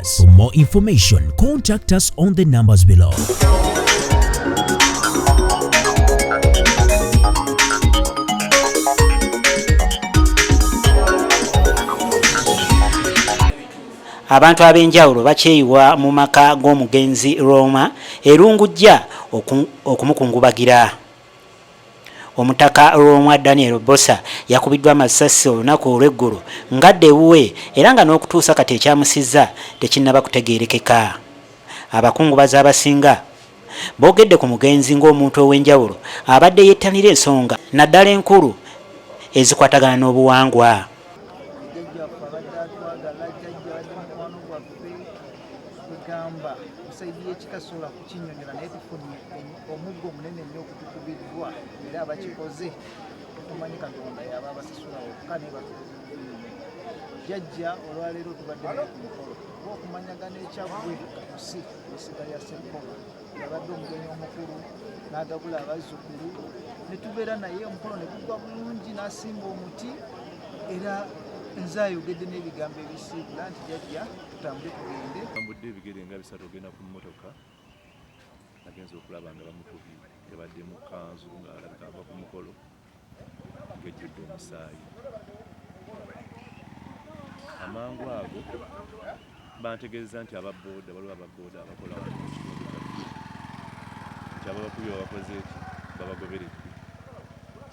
us. For more information, contact us on the numbers below. abantu ab'enjawulo bakyeyiwa mu maka g'omugenzi Roma erungujja okumukungubagira. Omutaka Lwomwa Daniel Bbosa yakubiddwa amasasi olunaku olw'eggulo ng'adda ewuwe era nga n'okutuusa kati ekyamusizza tekinnaba kutegeerekeka. Abakungubazi abasinga boogedde ku mugenzi ng'omuntu ow'enjawulo abadde yettanira ensonga naddala enkulu ezikwatagana n'obuwangwa. Jjajja waffe abadde atwagala, Jjajja abadde mukwano gwaffe, kwegamba ku side y'ekika sola. kinyonyola naye tufunye omuggo omunene nnyo okutukubiddwa era abakikoze tumanyi katonda yaba abasasula wokka naye batukuzi jajja olwaleero tubadde naye ku mukolo oba okumanyagana ekyaggwe katusi esiga ya sekola yabadde omugenyi omukulu n'agabula abazzukulu ne tubeera naye omukolo ne gugwa bulungi n'asimba omuti era nze ayogedde n'ebigambo ebisiibula nti jajja tutambule tugende tambudde ebigere nga bisatu ogenda ku mmotoka agenza okulaba nga bamukubye yabadde mu kanzu ng'alabika ava ku mukolo ng'ejjudde omusaayi amangu ago bantegeeza nti ababooda waliwo ababooda abakola nti ababakubye babakoze eki babagoberedde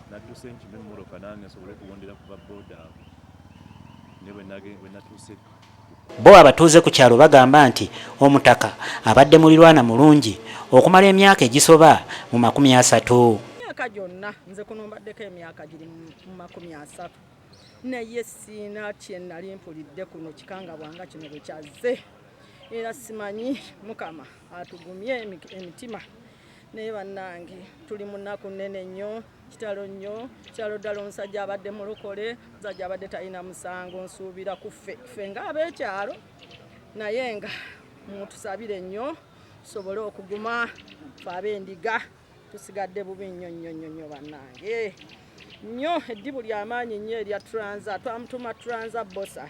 nadduse nkima emmoroka nange nsobole okuwondera ku babooda abo naye bwe natuuse Bbo abatuuze ku kyalo bagamba nti omutaka abadde mulirwana mulungi okumala emyaka egisoba mu makumi asatu. Emyaka gyonna nze kuno mbaddeko emyaka giri mu makumi asatu naye siina kyenali mpulidde kuno kikangabwa nga kino bwekyazze era simanyi mukama atugumye emitima naye bannange tuli munaku nnene nnyo. Kitalo nnyo, kitalo ddala. Omusajja abadde mulokole, omusajja abadde talina musango. Nsuubira ku ffe ffe ng'ab'ekyalo, naye nga mutusabire nnyo tusobole okuguma fe ab'endiga tusigadde bubi nnyo nnyo nnyo nnyo bannange nnyo eddibu ly'amaanyi nnyo erya transa twamutuma transa bosa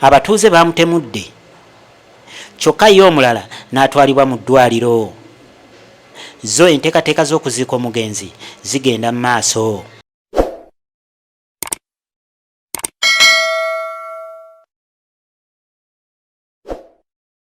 Abatuuze baamutemudde kyokka ye omulala n'atwalibwa mu ddwaaliro. Zo enteekateeka z'okuziika omugenzi zigenda mu maaso.